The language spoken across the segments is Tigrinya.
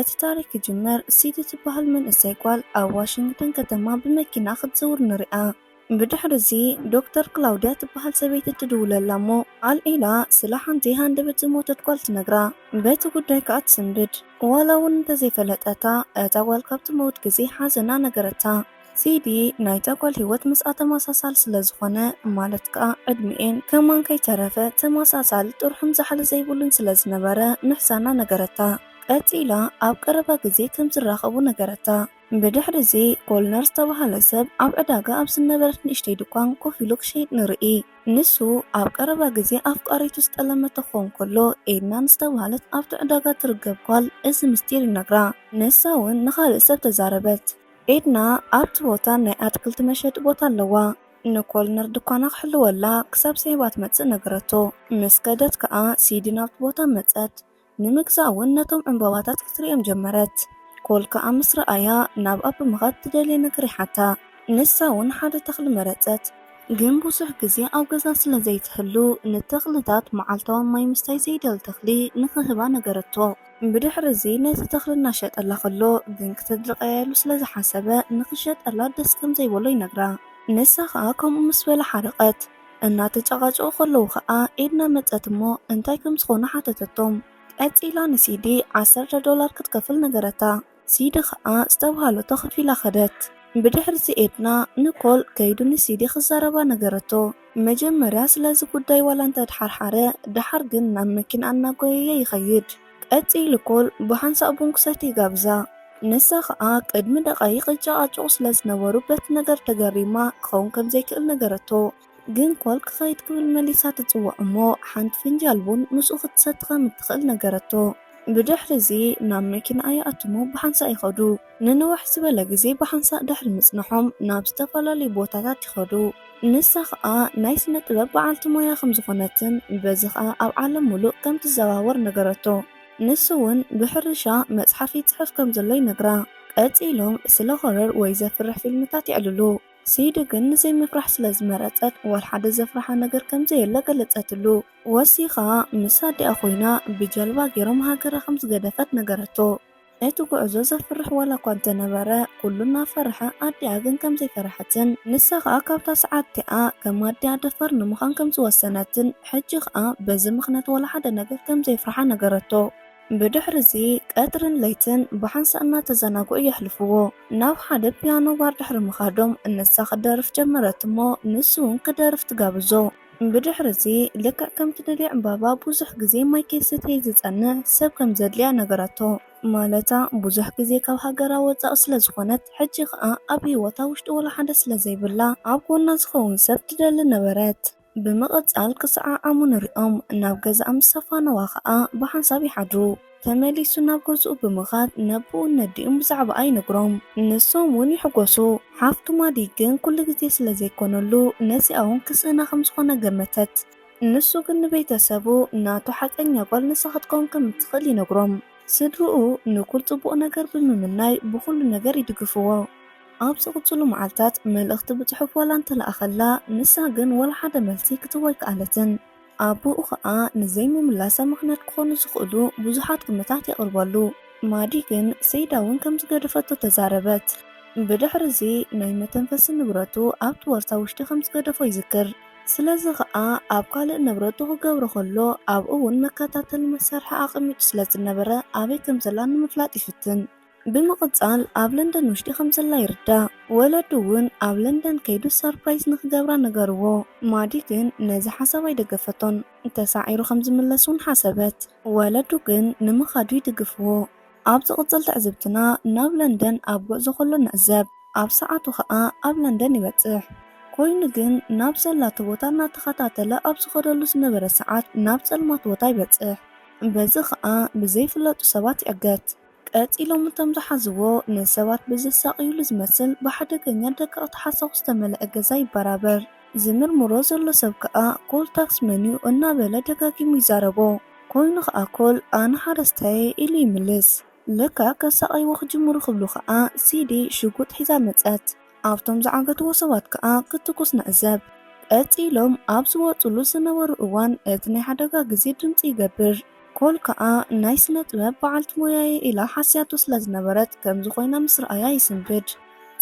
እቲ ታሪኽ ክጅምር፣ ሲዲ ትበሃል መንእሰይ ጓል ኣብ ዋሽንግተን ከተማ ብመኪና ክትዝውር ንሪኣ። ብድሕሪ'ዚ ዶክተር ክላውድያ ትበሃል ሰበይቲ ትድውለላ እሞ ኣልዒላ ስለ ሓንቲ ሃንደበት ዝሞተት ጓል ትነግራ። በቲ ጉዳይ ከኣ ትስንብድ። ዋላ እውን እንተዘይፈለጠታ፣ እታ ጓል ካብ ትመውት ግዜ ሓዘና ነገረታ። ሲዲ ናይታ ጓል ህይወት ምስኣ ተመሳሳሊ ስለ ዝኾነ፣ ማለት ከኣ ዕድሚኤን ከማን ከይተረፈ ተመሳሳሊ ጥርሑን ዛሕሊ ዘይብሉን ስለ ዝነበረ ምሕዛና ነገረታ። ቀጺላ ኣብ ቀረባ ግዜ ከም ዝራኸቡ ነገረታ። ብድሕርዚ፣ ኮልነር ዝተባህለ ሰብ ኣብ ዕዳጋ ኣብ ዝነበረት ንእሽተይ ድኳን ኮፍ ኢሉ ክሸይጥ ንርኢ። ንሱ ኣብ ቀረባ ግዜ ኣፍቃሪቱ ዝጠለመቶ ክኸውን ከሎ፣ ኤድና ንዝተባህለት ኣብቲ ዕዳጋ እትርገብ ጓል እዚ ምስጢር ይነግራ። ንሳ'ውን ንኻልእ ሰብ ተዛረበት። ኤድና ኣብቲ ቦታ ናይ ኣትክልቲ መሸጢ ቦታ ኣለዋ። ንኮልነር ድኳና ክሕልወላ ክሳብ ስዒባ ትመጽእ ነገረቶ። ምስ ከደት ከኣ ሲዲ ናብቲ ቦታ መጸት። ንምግዛእ እውን ነቶም ዕምባባታት ክትርእዮም ጀመረት። ኮል ከኣ ምስ ረኣያ፣ ናብኣ ብምኻድ ትደልዮ ነገር ይሓታ። ንሳ እውን ሓደ ተኽሊ መረጸት። ግን ብዙሕ ግዜ ኣብ ገዛ ስለ ዘይትህሉ፣ ንተኽልታት መዓልታዊ ማይ ምስታይ ዘይደሊ ተኽሊ ንኽህባ ነገረቶ። ብድሕሪ እዚ ነቲ ተኽሊ እናሸጠላ ከሎ ግን ክተድርቐያ ኢሉ ስለ ዝሓሰበ ንኽሸጠላ ደስ ከም ዘይበሎ ይነግራ። ንሳ ኸኣ ከምኡ ምስ በላ ሓረቐት። እናተጨቓጨቑ ከለዉ ከኣ ኤድና መጸት እሞ እንታይ ከም ዝኾኑ ሓተተቶም። ቀጺላ ንሲዲ ዓሰርተ ዶላር ክትከፍል ነገረታ። ሲዲ ከኣ ዝተብሃለቶ ከፊላ ከደት። ብድሕርዚ ኤድና ንኮል ከይዱ ንሲዲ ክዛረባ ነገረቶ። መጀመርያ ስለዚ ጉዳይ ዋላ እንተድሓርሓረ፣ ደሓር ግን ናብ መኪንኣ እናጎየየ ይኸይድ። ቀጺሉ ኮል ብሓንሳእ ቡንክሰት ይጋብዛ። ንሳ ከኣ ቅድሚ ደቓይቕ ይጨቓጨቑ ስለ ዝነበሩ በቲ ነገር ተገሪማ ክኸውን ከም ዘይክእል ነገረቶ። ግን ኮል ክኸይድ ክብል መሊሳ ትጽውዖ እሞ ሓንቲ ፍንጃል ቡን ምስኡ ክትሰቲ ከም እትኽእል ነገረቶ። ብድሕርዚ ናብ መኪናኣ ይኣትዉ'ሞ ብሓንሳእ ይኸዱ። ንንውሕ ዝበለ ግዜ ብሓንሳእ ድሕሪ ምጽንሖም ናብ ዝተፈላለዩ ቦታታት ይኸዱ። ንሳ ኸኣ ናይ ስነ-ጥበብ በዓልቲ ሞያ ከም ዝኾነትን በዚ ኸኣ ኣብ ዓለም ምሉእ ከም ትዘዋወር ነገረቶ። ንሱ'ውን ብሕርሻ መጽሓፍ ይጽሕፍ ከም ዘሎ ይነግራ። ቀጺሎም ስለ ሆረር ወይ ዘፍርሕ ፊልምታት የዕልሉ። ሲዲ ግን ንዘይምፍራሕ ስለ ዝመረጸት ዋላ ሓደ ዘፍርሓ ነገር ከም ዘየለ ገለጸትሉ። ወሲኻ ምስ ኣዲኣ ኮይና ብጀልባ ገይሮም ሃገራ ከም ዝገደፈት ነገረቶ። እቲ ጉዕዞ ዘፍርሕ ዋላኳ እንተነበረ ኩሉ እናፈርሐ ኣዲኣ ግን ከምዘይፈርሐትን ንሳ ከኣ ካብታ ሰዓት እቲኣ ከም ኣዲኣ ደፋር ንምዃን ከምዝወሰነትን ሕጂ ከኣ በዚ ምኽንያት ዋላ ሓደ ነገር ከምዘየፍርሓ ነገረቶ። ብድሕሪ እዚ ቀትርን ለይትን ብሓንሳእ እናተዘናግዑ የሕልፍዎ። ናብ ሓደ ፒያኖ ባር ድሕሪ ምኻዶም ንሳ ክትደርፍ ጀመረት እሞ ንሱ እውን ክደርፍ ትጋብዞ። ብድሕርዚ ልክዕ ከም ትደልዮ ዕምባባ ብዙሕ ግዜ ማይ ከይሰተየ ዝጸንሕ ሰብ ከም ዘድልያ ነገራቶ። ማለታ ብዙሕ ግዜ ካብ ሃገራ ወጻኢ ስለ ዝኾነት ሕጂ ከኣ ኣብ ህይወታ ውሽጢ ወላ ሓደ ስለ ዘይብላ ኣብ ጎና ዝኸውን ሰብ ትደሊ ነበረት። ብምቕጻል ክሰዓዓሙ ንርእዮም። ናብ ገዛኣ ምስ ኣፋነዋ ከኣ ብሓንሳብ ይሓድሩ። ተመሊሱ ናብ ገዝኡ ብምኻድ ነቦኡን ነዲኡን ብዛዕባኣ ይነግሮም። ንሶም ውን ይሕጎሱ። ሓፍቱ ማዲ ግን ኩሉ ግዜ ስለ ዘይኮነሉ ነዚኣ ውን ክስእና ከም ዝኾነ ገመተት። ንሱ ግን ንቤተሰቡ ናቱ ሓቀኛ ጓል ንሳ ክትከውን ከም እትኽእል ይነግሮም። ስድርኡ ንኩል ጽቡቕ ነገር ብምምናይ ብኹሉ ነገር ይድግፍዎ። ኣብ ዝቕጽሉ መዓልታት መልእኽቲ ብጽሑፍ ዋላ እንተለኣኸላ ንሳ ግን ዋላ ሓደ መልሲ ክትህቦ ኣይከኣለትን። ኣቡኡ ከኣ ንዘይምምላሳ ምኽንያት ክኾኑ ዝኽእሉ ብዙሓት ግምታት የቕርበሉ። ማዲ ግን ሰይዳ እውን ከም ዝገደፈቶ ተዛረበት። ብድሕርዚ ናይ መተንፈሲ ንብረቱ ኣብቲ ቦርሳ ውሽጢ ከም ዝገደፎ ይዝክር። ስለዚ ከኣ ኣብ ካልእ ንብረቱ ክገብሮ ከሎ ኣብኡ እውን መከታተሊ መሳርሒ ኣቐሚጡ ስለ ዝነበረ ኣበይ ከም ዘላ ንምፍላጥ ይፍትን። ብምቕጻል ኣብ ለንደን ውሽጢ ከም ዘላ ይርዳእ። ወለዱ እውን ኣብ ለንደን ከይዱ ሰርፕራይዝ ንኽገብራ ነገርዎ። ማዲ ግን ነዚ ሓሳብ ኣይደገፈቶን። ተሳዒሩ ከም ዝምለስ እውን ሓሰበት። ወለዱ ግን ንምኻዱ ይድግፍዎ። ኣብ ዝቕጽል ትዕዝብትና ናብ ለንደን ኣብ ጉዕዞ ከሎ ንዕዘብ። ኣብ ሰዓቱ ከኣ ኣብ ለንደን ይበጽሕ። ኮይኑ ግን ናብ ዘላቶ ቦታ እናተኸታተለ ኣብ ዝኸደሉ ዝነበረ ሰዓት ናብ ጸልማት ቦታ ይበጽሕ። በዚ ከኣ ብዘይፍለጡ ሰባት ይዕገት። ቀጺሎም እቶም ዝሓዝዎ ንሰባት ብዘሳቕዩሉ ዝመስል ብሓደገኛ ደቀቕቲ ሓሳኹ ዝተመልኣ ገዛ ይበራበር። ዝምርምሮ ዘሎ ሰብ ከኣ ኮል ታክስ መን'ዩ እናበለ ደጋጊሙ ይዛረቦ። ኮይኑ ከኣ ኮል ኣነ ሓረስታይ'የ ኢሉ ይምልስ። ለካ ከሳቕይዎ ክጅምሩ ክብሉ ከኣ ሲዲ ሽጉጥ ሒዛ መጸት። ኣብቶም ዝዓገትዎ ሰባት ከኣ ክትኩስ ንዕዘብ። ቀጺሎም ኣብ ዝወጽሉ ዝነበሩ እዋን እቲ ናይ ሓደጋ ግዜ ድምጺ ይገብር። ኮል ከኣ ናይ ስነ-ጥበብ በዓልቲ ሞያ'የ ኢላ ሓስያቶ ስለ ዝነበረት ከምዚ ኮይና ምስ ረኣያ ይስንብድ።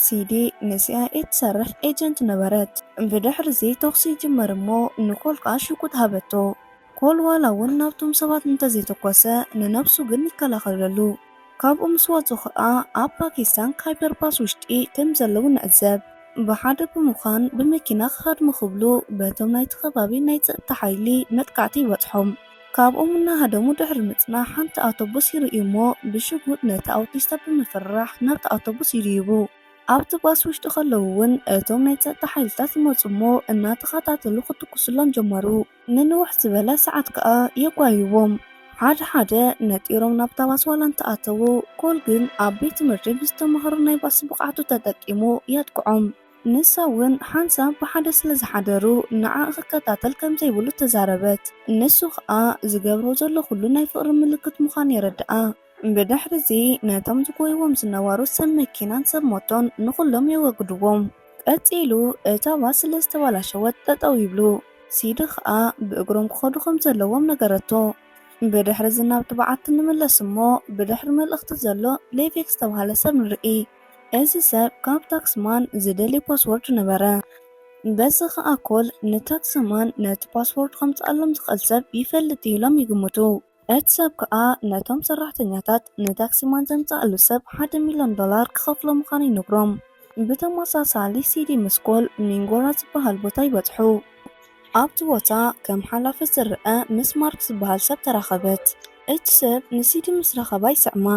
ሲዲ ንሲኣይኤ ትሰርሕ ኤጀንት ነበረት። ብድሕሪ'ዚ ተኹሲ ይጅመር እሞ ንኮል ከኣ ሽጉጥ ሃበቶ። ኮል ዋላ'ውን ናብቶም ሰባት እንተዘይተኮሰ ንነብሱ ግን ይከላኸለሉ። ካብኡ ምስ ወጹ ከኣ ኣብ ፓኪስታን ካይበር ፓስ ውሽጢ ከም ዘለዉ ንዕዘብ። ብሓደ ብምዃን ብመኪና ክሃድሙ ክብሉ በቶም ናይቲ ከባቢ ናይ ጸጥታ ሓይሊ መጥቃዕቲ ይበጽሖም። ካብኦም እናሃደሙ ድሕሪ ምጽናሕ ሓንቲ ኣውቶቡስ ይርእዩ እሞ ብሽጉጥ ነቲ ኣውቲስታ ብምፍርራሕ ናብታ ኣውቶቡስ ይድይቡ። ኣብቲ ባስ ውሽጢ ከለዉ እውን እቶም ናይ ጸጥታ ሓይልታት ይመጹ እሞ እናተኸታተሉ ክትኩሱሎም ጀመሩ። ንንውሕ ዝበለ ሰዓት ከኣ የጓይዎም። ሓደ ሓደ ነጢሮም ናብታ ባስ ዋላ እንተኣተዉ፣ ኮል ግን ኣብ ቤት ትምህርቲ ብዝተማህሮ ናይ ባስ ብቕዓቱ ተጠቂሙ የጥቅዖም። ንሳ እውን ሓንሳብ ብሓደ ስለ ዝሓደሩ ንዓ ክከታተል ከም ዘይብሉ ተዛረበት። ንሱ ከኣ ዝገብሮ ዘሎ ኩሉ ናይ ፍቕሪ ምልክት ምዃኑ የረድኣ። ብድሕሪ'ዚ ነቶም ዝጎይዎም ዝነበሩ ሰብ መኪናን ሰብ ሞቶን ንኹሎም የወግድዎም። ቀጺሉ እታ ባስ ስለ ዝተባላሸወት ጠጠው ይብሉ። ሲዲ ከኣ ብእግሮም ክኸዱ ከም ዘለዎም ነገረቶ። ብድሕሪ'ዚ ናብቲ በዓቲ ንምለስ እሞ ብድሕሪ መልእኽቲ ዘሎ ሌቬክ ዝተባህለ ሰብ ንርኢ። እዚ ሰብ ካብ ታክሲ ማን ዝደልይ ፓስዎርድ ነበረ። በዚ ከኣ ኮል ንታክሲ ማን ነቲ ፓስዎርድ ከምጽኣሎም ዝኽእል ሰብ ይፈልጥ እዩ ኢሎም ይግምቱ። እቲ ሰብ ከኣ ነቶም ሰራሕተኛታት ንታክሲማን ዘምጽኣሉ ሰብ ሓደ ሚልዮን ዶላር ክኸፍሎ ምዃኑ ይነግሮም። ብተመሳሳሊ ሲዲ ምስኮል ሚንጎራ ዝበሃል ቦታ ይበጽሑ። ኣብቲ ቦታ ከም ሓላፊ ዝርኣ ምስ ማርክ ዝበሃል ሰብ ተራኸበት። እቲ ሰብ ንሲዲ ምስ ረኸባ ይስዕማ።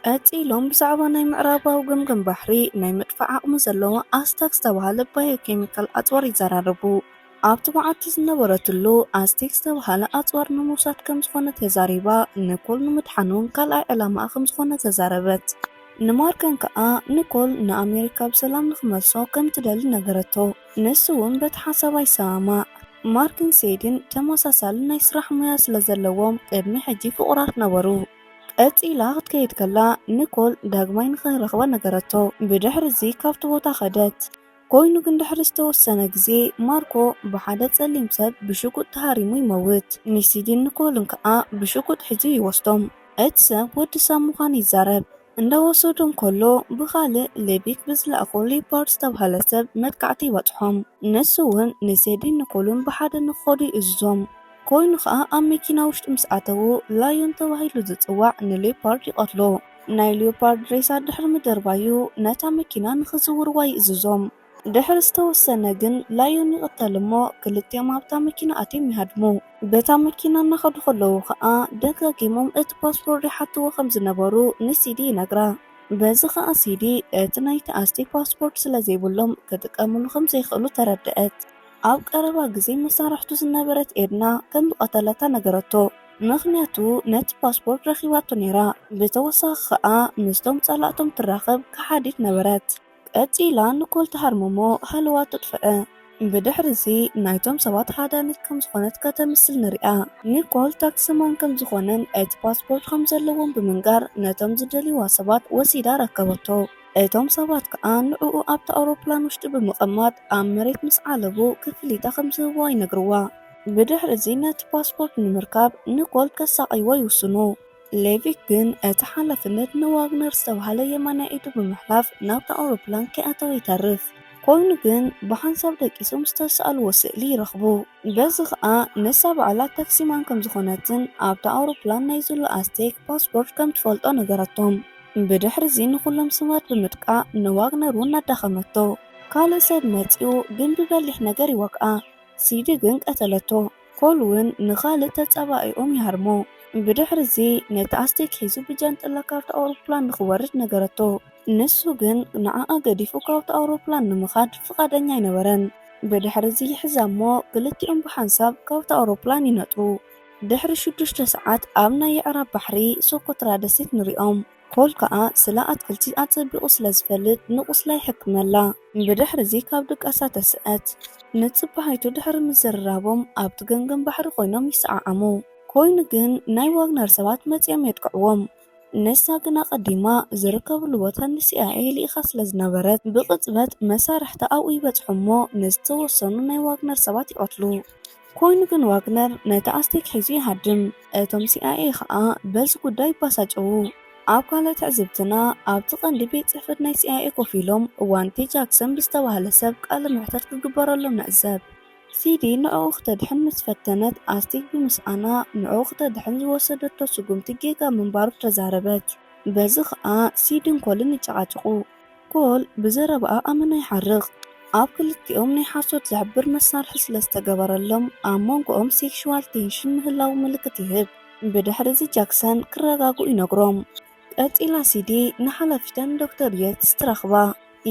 ቀጺሎም ብዛዕባ ናይ ምዕራባዊ ገምገም ባሕሪ ናይ ምድፋእ ዓቕሚ ዘለዎ ኣስቴክ ዝተባህለ ባዮኬሚካል ኣጽዋር ይዘራረቡ። ኣብቲ መዓልቲ ዝነበረትሉ፣ ኣስቴክ ዝተባህለ ኣጽዋር ንምውሳድ ከም ዝኾነ ተዛሪባ፣ ንኮል ንምድሓን እውን ካልኣይ ዕላማኣ ከም ዝኾነ ተዛረበት። ንማርጋን ከኣ ንኮል ንኣመሪካ ብሰላም ንኽመልሶ ከም እትደሊ ነገረቶ። ንሱ እውን በቲ ሓሳባ ይሰማማዕ። ማርክን ሴድን ተመሳሳሊ ናይ ስራሕ ሞያ ስለ ዘለዎም ቅድሚ ሕጂ ፍቑራት ነበሩ። ቀጺላ ክትከይድ ከላ ኒኮል ዳግማይ ንኽንረኽባ ነገረቶ። ብድሕርዚ ካብቲ ቦታ ከደት። ኮይኑ ግን ድሕሪ ዝተወሰነ ግዜ ማርኮ ብሓደ ጸሊም ሰብ ብሽጉጥ ተሃሪሙ ይመውት። ኒሲዲን ኒኮልን ከኣ ብሽጉጥ ሒዙ ይወስዶም። እቲ ሰብ ወዲ ሳም ምዃኑ ይዛረብ። እንዳወሰዱ እንከሎ ብኻልእ ሌቪክ ብዝለኣኾ ሊዮፓርድ ዝተብሃለ ሰብ መጥቃዕቲ ይበጽሖም። ንሱ ውን ንሴዲን ኒኮልን ብሓደ ንክኸዱ ይእዝዞም። ኮይኑ ከኣ ኣብ መኪና ውሽጢ ምስ ኣተዉ ላዮን ተባሂሉ ዝጽዋዕ ንሊዮፓርድ ይቐትሎ። ናይ ሊዮፓርድ ሬሳ ድሕሪ ምድርባዩ ነታ መኪና ንክዝውርዋ ይእዝዞም። ድሕሪ ዝተወሰነ ግን ላዮን ይቕተል እሞ ክልቲኦም ኣብታ መኪና ኣትዮም ይሃድሙ። በታ መኪና እናኸዱ ከለዉ ከኣ ደጋጊሞም እቲ ፓስፖርድ ይሓትዎ ከም ዝነበሩ ንሲዲ ይነግራ። በዚ ከኣ ሲዲ እቲ ናይ ተኣስቲ ፓስፖርድ ስለ ዘይብሎም ክጥቀምሉ ከም ዘይክእሉ ተረደኣት። ኣብ ቀረባ ግዜ መሳርሕቱ ዝነበረት ኤድና ከም ዝቐተለታ ነገረቶ፣ ምኽንያቱ ነቲ ፓስፖርድ ረኺባቶ ነይራ። ብተወሳኺ ከኣ ምስቶም ጸላእቶም ትራኸብ ከሓዲት ነበረት። ቀጺላ ንኮል ትሃርምሞ ሃለዋት ትጥፍእ። ብድሕርዚ ናይቶም ሰባት ሃዳኒት ከም ዝኾነት ከተምስል ንርእያ። ንኮል ታክሲማን ከም ዝኾነን እቲ ፓስፖርት ከም ዘለዎን ብምንጋር ነቶም ዝደልይዋ ሰባት ወሲዳ ኣረከበቶ። እቶም ሰባት ከኣ ንዕኡ ኣብታ ኣውሮፕላን ውሽጢ ብምቐማጥ ኣብ መሬት ምስ ዓለቡ ክፍሊታ ከም ዝህብዋ ይነግርዋ። ብድሕርዚ ነቲ ፓስፖርት ንምርካብ ንኮል ከሳቕይዎ ይውስኑ። ሌቪክ ግን እቲ ሓላፍነት ንዋግነር ዝተባህለ የማናይ ኢዱ ብምሕላፍ ናብታ ኣውሮፕላን ከይኣተወ ይተርፍ። ኮይኑ ግን ብሓንሳብ ደቂሶም ዝተስኣልዎ ስእሊ ይረኽቡ። በዚ ከኣ ንሳ ባዕላ ታክሲማን ከም ዝኾነትን ኣብታ ኣውሮፕላን ናይ ዙላ ኣስቴክ ፓስፖርት ከም ትፈልጦ ነገረቶም። ብድሕሪዚ ንኹሎም ስማት ብምጥቃእ ንዋግነር እውን ኣዳኸመቶ። ካልእ ሰብ መጺኡ ግን ብበሊሕ ነገር ይወግኣ። ሲዲ ግን ቀተለቶ። ኾል ውን ንኻልእ ተጻባኢኦም ይሃርሞ። ብድሕርዚ ነቲ ኣስቴክ ሒዙ ብጃንጥላ ካብታ ኣውሮፕላን ንኽወርድ ነገረቶ። ንሱ ግን ንዓኣ ገዲፉ ካብታ ኣውሮፕላን ንምኻድ ፍቓደኛ ኣይነበረን። ብድሕርዚ ይሕዛ'ሞ ክልቲኦም ብሓንሳብ ካብታ ኣውሮፕላን ይነጥሩ። ድሕሪ ሽዱሽተ ሰዓት ኣብ ናይ የዕራብ ባሕሪ ሶኮትራ ደሴት ንሪኦም። ኾል ከኣ ስለ ኣትክልቲ ኣጸቢቑ ስለ ዝፈልጥ ንቑስላ ይሕክመላ። ብድሕርዚ ካብ ድቃሳ ተስእት። ንጽባሒቱ ድሕሪ ምዝርራቦም ኣብቲ ገምገም ባሕሪ ኮይኖም ይሰዓዓሙ። ኮይኑ ግን ናይ ዋግነር ሰባት መጺኦም የጥቅዕዎም። ንሳ ግን ኣቐዲማ ዝርከብሉ ቦታ ንሲኣይኤ ልኢኻ ስለ ዝነበረት ብቕጽበት መሳርሕታ ኣብኡ ይበጽሑ'ሞ ንዝተወሰኑ ናይ ዋግነር ሰባት ይቐትሉ። ኮይኑ ግን ዋግነር ነቲ ኣስቴክ ሒዙ ይሃድም፣ እቶም ሲኣይኤ ኸኣ በዚ ጉዳይ ይበሳጨዉ። ኣብ ካልእ ትዕዝብትና፣ ኣብቲ ቀንዲ ቤት ጽሕፈት ናይ ሲኣይኤ ኮፍ ኢሎም ዋንቴ ጃክሰን ብዝተባህለ ሰብ ቃለ መሕተት ክግበረሎም ንዕዘብ። ሲዲ ንዕኡ ክተድሕን ምስ ፈተነት፣ ኣስቴክ ብምስኣና ንዕኡ ክተድሕን ዝወሰደቶ ስጉምቲ ጌጋ ምንባሩ ተዛረበት። በዚ ኸኣ ሲድን ኮልን ይጨቓጨቑ። ኮል ብዘረባኣ ኣመና ይሓርቕ። ኣብ ክልቲኦም ናይ ሓሶት ዝሕብር መሳርሒ ስለ ዝተገበረሎም፣ ኣብ መንጎኦም ሴክሹዋል ቴንሽን ምህላዉ ምልክት ይህብ። ብድሕርዚ ጃክሰን ክረጋግኡ ይነግሮም። ቀጺላ ሲዲ ንሓላፊተን ዶክተር የትስ ትረኽባ።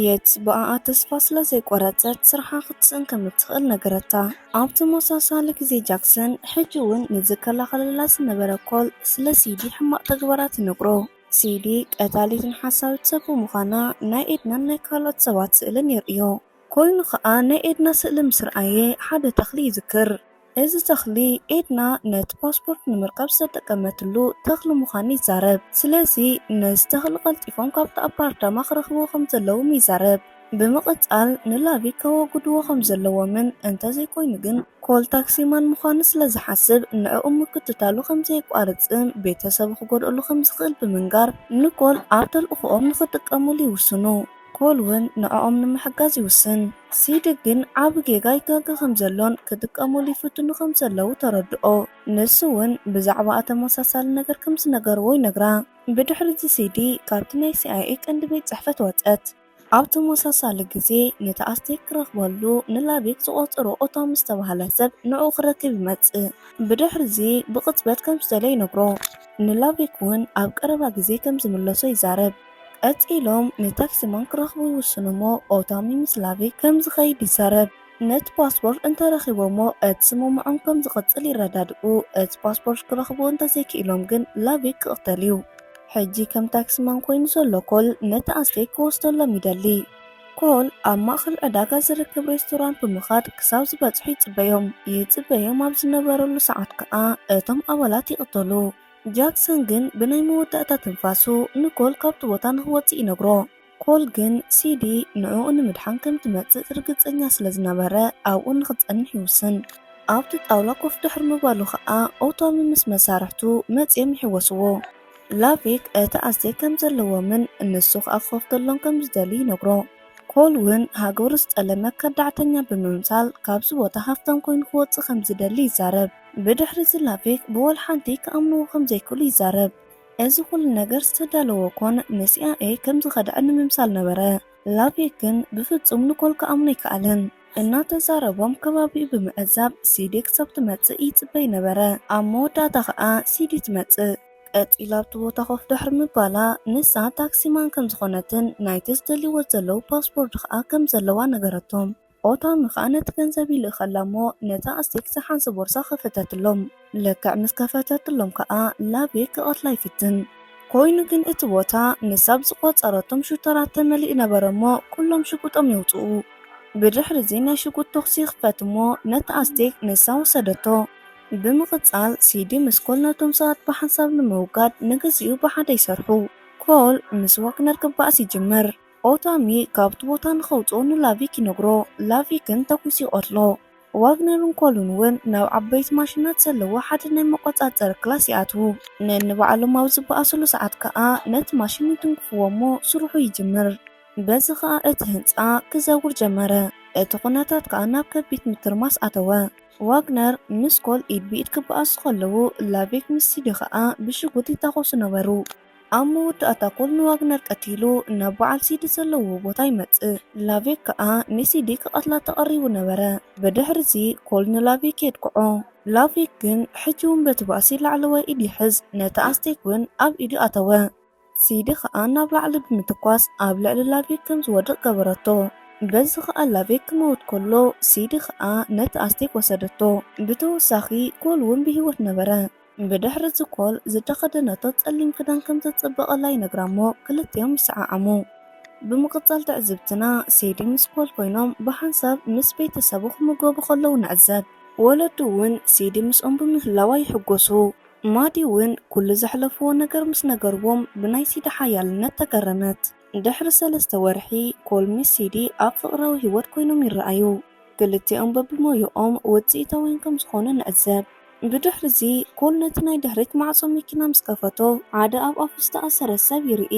የትስ ብኣኣ ተስፋ ስለ ዘይቆረጸት ስርሓ ክትስእን ከም እትኽእል ነገረታ። ኣብ ተመሳሳሊ ግዜ ጃክሰን ሕጂ'ውን ንዝከላኸለላ ዝነበረ ኮል ስለ ሲዲ ሕማቕ ተግባራ ትነግሮ። ሲዲ ቀታሊትን ሓሳዊት ሰብ ብምዃና ናይ ኤድናን ናይ ካልኦት ሰባት ስእልን የርእዮ። ኮይኑ ከኣ ናይ ኤድና ስእሊ ምስ ረኣየ ሓደ ተኽሊ ይዝክር። እዚ ተኽሊ ኤድና ነቲ ፓስፖርት ንምርካብ ዝተጠቀመትሉ ተኽሊ ምዃኑ ይዛረብ። ስለዚ ነዚ ተኽሊ ቀልጢፎም ካብቲ ኣፓርታማ ክረኽብዎ ከም ዘለዎም ይዛረብ። ብምቕጻል ንላቪ ከወግድዎ ከም ዘለዎምን እንተ ዘይኮይኑ ግን ኮል ታክሲ ማን ምዃኑ ስለ ዝሓስብ ንዕኡ ምክትታሉ ከም ዘየቋርጽን ቤተሰቡ ክጎድኣሉ ከም ዝኽእል ብምንጋር ንኮል ኣብ ተልእኾኦም ንኽጥቀሙሉ ይውስኑ። ኮል እውን ንዕኦም ንምሕጋዝ ይውስን። ሲዲ ግን ዓቢ ጌጋ ይጋገ ከም ዘሎን ክጥቀሙሉ ይፍትኑ ከም ዘለዉ ተረድኦ። ንሱ እውን ብዛዕባኣ ተመሳሳሊ ነገር ከም ዝነገርዎ ይነግራ። ብድሕሪ እዚ ሲዲ ካብቲ ናይ ሲኣይኤ ቀንዲ ቤት ጽሕፈት ወጸት። ኣብ ተመሳሳሊ ግዜ ነቲ ኣስቴክ ክረኽበሉ ንላቤክ ዝቖጸሮ ኦታም ዝተባህለ ሰብ ንዕኡ ክረክብ ይመጽእ። ብድሕሪ እዚ ብቕጽበት ከም ዝደለየ ይነግሮ። ንላቤክ እውን ኣብ ቀረባ ግዜ ከም ዝምለሶ ይዛረብ። ቀጺሎም ንታክሲማን ክረኽቡ ይውስኑ እሞ ኦታሚ ምስ ላቤክ ከም ዝኸይድ ይዛረብ። ነቲ ፓስፖርት እንተረኺቦሞ እቲ ስምምዖም ከም ዝቕጽል ይረዳድኡ። እቲ ፓስፖርት ክረኽቡ እንተዘይክኢሎም ግን ላቪክ ክቕተል እዩ። ሕጂ ከም ታክሲማን ኮይኑ ዘሎ ኮል ነቲ ኣስቴክ ክወስደሎም ይደሊ። ኮል ኣብ ማእከል ዕዳጋ ዝርከብ ሬስቶራንት ብምኻድ ክሳብ ዝበጽሑ ይጽበዮም። ይጽበዮም ኣብ ዝነበረሉ ሰዓት ከኣ እቶም ኣባላት ይቕተሉ። ጃክሰን ግን ብናይ መወዳእታ ትንፋሱ ንኮል ካብቲ ቦታ ንኽወጽእ ይነግሮ። ኮል ግን ሲዲ ንዕኡ ንምድሓን ከም እትመጽእ ርግጸኛ ስለ ዝነበረ፣ ኣብኡ ንኽትጸንሕ ይውስን። ኣብቲ ጣውላ ኮፍ ድሕሪ ምባሉ ኸኣ ኦቶሚ ምስ መሳርሕቱ መጺኦም ይሕወስዎ። ላቪክ እቲ ኣስቴክ ከም ዘለዎምን ንሱ ኸኣ ክኸፍተሎም ከም ዝደሊ ይነግሮ። ኮል እውን ሃገሩ ዝጠለመ ከዳዕተኛ ብምምሳል ካብዚ ቦታ ሃፍታም ኰይኑ ክወጽእ ከም ዝደሊ ይዛረብ። ብድሕሪዚ ላቪክ ብወላ ሓንቲ ክኣምንዎ ከም ዘይክእሉ ይዛረብ። እዚ ኹሉ ነገር ዝተዳለወ ኮን ንሲኣይኤይ ከም ዝኸድዐ ንምምሳል ነበረ። ላቪክ ግን ብፍጹም ንኮል ክኣምኖ ኣይከኣለን። እናተዛረቦም ከባቢኡ ብምዕዛብ ሲዲ ክሳብ ትመጽእ ይጽበይ ነበረ። ኣብ መወዳእታ ከኣ ሲዲ ትመጽእ። ቀጺላ ኣብቲ ቦታ ኮፍ ድሕሪ ምባላ ንሳ ታክሲማን ከም ዝኾነትን ናይቲ ዝደልይዎ ዘለዉ ፓስፖርድ ከኣ ከም ዘለዋ ነገረቶም። ኦታ ምካኣ ነቲ ገንዘብ ይልእከላ እሞ ነታ ኣስቴክ ዝሓንሲ ቦርሳ ከፈተትሎም ልክዕ ምስ ከፈተትሎም ካኣ ላቤክ ክቀትላ ይፍትን ኮይኑ ግን እቲ ቦታ ንሳ ብዝቆጸረቶም ሹተራት ተመሊኡ ነበረ እሞ ኩሎም ሽጉጦም የውጽኡ ብድሕሪ እዚ ናይ ሽጉጥ ቶክሲ ይክፈት እሞ ነቲ ኣስቴክ ንሳ ወሰደቶ ብምቅጻል ሲዲ ምስ ኮል ነቶም ሰባት ብሓንሳብ ንምውጋድ ንግዚኡ ብሓደ ይሰርሑ ኮል ምስ ዋግነር ክባኣስ ይጅምር። ኦታሚ ካብቲ ቦታ ንኸውጽኦ ንላቪክ ይነግሮ፣ ላቪክን ተኲሱ ይቐትሎ። ዋግነርን ኮሉን እውን ናብ ዓበይቲ ማሽናት ዘለዎ ሓደ ናይ መቖጻጸሪ ክላስ ይኣትዉ። ነንባዕሎም ኣብ ዝበኣሱሉ ሰዓት ከኣ ነቲ ማሽን ይትንክፍዎ እሞ ስርሑ ይጅምር። በዚ ከኣ እቲ ህንጻ ክዘውር ጀመረ፣ እቲ ኩነታት ከኣ ናብ ከቢድ ምትርማስ ኣተወ። ዋግነር ምስ ኮል ኢድ ብኢድ ክበኣሱ ከለዉ፣ ላቪክ ምስ ሲዲ ከኣ ብሽጉጥ ይታኾሱ ነበሩ። ኣብ መወዳእታ ኮል ንዋግነር ቀቲሉ ናብ በዓል ሲዲ ዘለዎ ቦታ ይመጽእ። ላቬክ ከኣ ንሲዲ ክቐትላ ተቐሪቡ ነበረ። ብድሕርዚ ኮል ንላቬክ የጥቅዖ። ላቬክ ግን ሕጂ እውን በቲ ባእሲ ላዕለዋይ ኢድ ይሕዝ፣ ነቲ ኣስቴክ እውን ኣብ ኢዱ ኣተወ። ሲዲ ከኣ ናብ ላዕሊ ብምትኳስ ኣብ ልዕሊ ላቬክ ከም ዝወድቕ ገበረቶ። በዚ ከኣ ላቬክ ክመውት ከሎ ሲዲ ከኣ ነቲ ኣስቴክ ወሰደቶ። ብተወሳኺ ኮል እውን ብህይወት ነበረ። ብድሕሪ እቲ ኮል ዝተኸደነቶ ጸሊም ክዳን ከም ዘጸበቐላ ይነግራ እሞ ክልቲኦም ይሰዓዓሙ። ብምቕጻል ትዕዝብትና፣ ሴዲ ምስ ኮል ኮይኖም ብሓንሳብ ምስ ቤተሰቡ ክምገቡ ከለዉ ንዕዘብ። ወለዱ እውን ሴዲ ምስኦም ብምህላዋ ይሕጎሱ። ማዲ እውን ኩሉ ዘሕለፍዎ ነገር ምስ ነገርዎም ብናይ ሴዲ ሓያልነት ተገረመት። ድሕሪ ሰለስተ ወርሒ፣ ኮል ምስ ሲዲ ኣብ ፍቕራዊ ህይወት ኰይኖም ይረኣዩ። ክልቲኦም በብሞያኦም ውጽኢታውያን ከም ዝዀኑ ንዕዘብ። ብድሕርዚ፣ ኮል ነቲ ናይ ድሕሪት ማዕጾ መኪና ምስ ከፈቶ፣ ሓደ ኣብ ኣፉ ዝተኣሰረ ሰብ ይርኢ።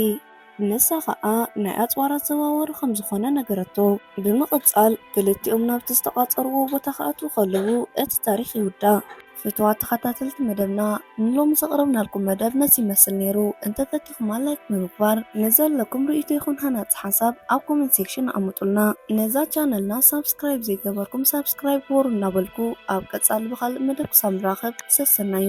ንሳ ኸኣ ናይ ኣጽዋር ኣዘዋዋሪ ኸም ዝዀነ ነገረቶ። ብምቕጻል፣ ክልቲኦም ናብቲ ዝተቛጸርዎ ቦታ ኽኣትዉ ኸለዉ እቲ ታሪኽ ይውዳእ። ፍትዋት ተኸታተልቲ መደብና ንሎሚ ዘቕረብናልኩም መደብ ነዚ ይመስል ነይሩ። እንተፈቲኹማ ላይክ ብምግባር ንዘለኩም ርእይቶ ይኹን ሃናጺ ሓሳብ ኣብ ኮመንት ሴክሽን ኣቐምጡልና። ነዛ ቻነልና ሳብስክራይብ ዘይገበርኩም ሳብስክራይብ ግበሩ እናበልኩ ኣብ ቀጻሊ ብኻልእ መደብ ክሳብ ንራኸብ ሰሰናዩ።